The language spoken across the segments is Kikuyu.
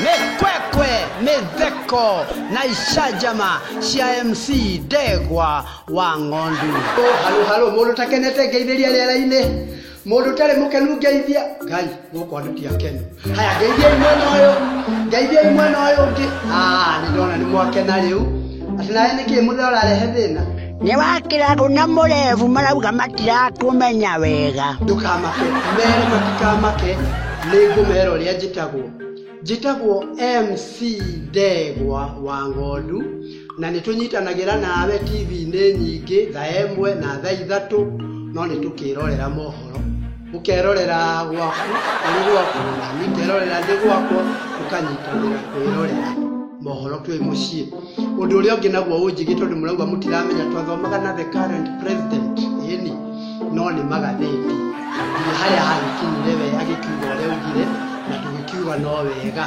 mekwekwe metheko na icanjama cia mc ndegwa wa ng'ondu Oh, halo halo mundu takenete ngeithĩria rĩera-inĩ mundu tarĩ mũkenu ngeithia ngai gũkũ andũ ti akenu haya ngeithia imwena ũyũ ngeithia imwena ũyũ ũngĩ Ah, nĩ ndona nĩ mwakena rĩu atĩ nawe nĩ kĩĩ mũthee ũrarehe thĩna nĩ wakĩragwo na mũrevu marauga matirakũmenya wega ndũkamake mere matikamake nĩ ngũmera ũrĩa njĩtagwo njĩtagwo mc ndegwa wa ng'ondu na nĩ tũnyitanagĩra nawe tv-inĩ nyingĩ tha ĩmwe na tha ithatũ no nĩ tũkĩrorera mohoro ukerorera gwaku uri gwaku nami ngerorera ndi gwakwa ukanyitanira kwirorera mohoro twi mucii undu uria ungi naguo unjigi tondu murauga mutiramenya twathomaga na the current president ini no ni magatheti nginya haria hagikinyire we agikiuga uria ugire na tugikiuga no wega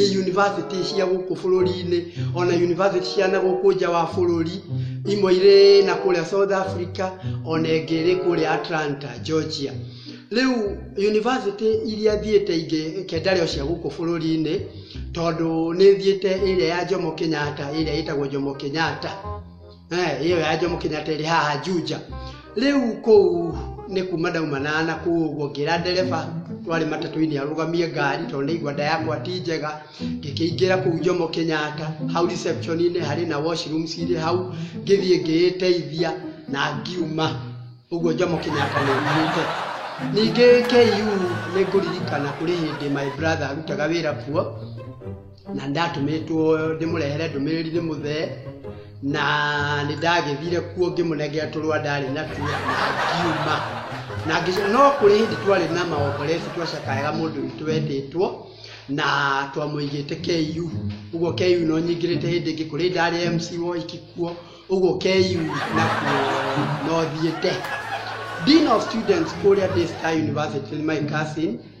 i yunivasĩtĩ cia gũkũ bũrũri-inĩ ona yunivasĩtĩ cia na gũkũ nja wa bũrũri imwe irĩ na kũrĩa south africa ona ĩngĩ ĩrĩ kũrĩa atlanta georgia rĩu yunivasĩtĩ iria thiĩte ingĩ kendarĩ o cia gũkũ bũrũri-inĩ tondũ nĩ thiĩte ĩrĩa ya jomo kenyatta ĩrĩa ĩtagwo jomo kenyatta Eh, iyo ya Jomo Kenyatta ĩrĩ haha Juja. Rĩu kũu nĩ kuma ndauma na na kũu ũguo ngĩra ndereba twarĩ matatũ-inĩ arũgamie ngari tondũ nĩ igwanda yakwa ti njega ngĩkĩingĩra kũu Jomo Kenyatta hau reception-inĩ harĩ na washroom cirĩ hau ngĩthiĩ ngĩĩteithia na ngiuma ũguo Jomo Kenyatta nĩ umĩte ningĩ KU nĩ ngũririkana kũrĩ hĩndĩ my brother arutaga wĩra kuo na ndatũmĩtwo ndĩmũrehere ndũmĩrĩri nĩ mũthee na nĩ ndagĩthire kuo ngĩmũnengera tũrũa ndarĩ natuo na ngiuma na ngĩcoka no kũrĩ hĩndĩ twarĩ na maokorecu twacakayaga mũndũ witũ wetĩtwo na twamũigĩte KU ũguo KU no nyingĩrĩte hĩndĩ ĩngĩ kũrĩ ndarĩ MC woiki kuo ũguo KU nakuo no thiĩte Dean of Students kũrĩa Daystar University my cousin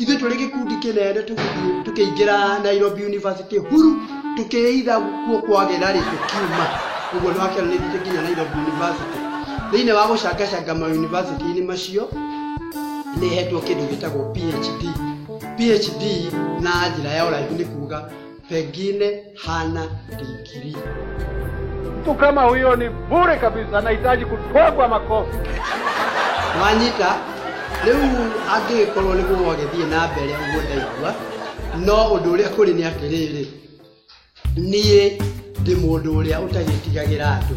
ithuĩ tũrĩ gĩkundi kĩnene tũgĩthiĩ tũkĩingĩra nairobi university huru tũkĩitha kuo kwagĩra rĩ tũkiuma ũguo nĩwakĩra nĩ ithuĩ nginya nairobi university thĩinĩ wa gũcangacanga ma university-inĩ macio nĩ hetwo kĩndũ gĩtagwo phd phd na njĩra ya ũraihu nĩ kuga pengine hana digrii. Mtu kama huyo ni bure kabisa, anahitaji kutwagwa makofi. Mwanyita, rĩu angĩgĩkorwo nĩ gũo agĩthiĩ na mbere ũguo ndaigua no ũndũ ũrĩa kũrĩ nĩ atĩrĩrĩ niĩ ndĩ mũndũ ũrĩa ũtagĩtigagĩra andũ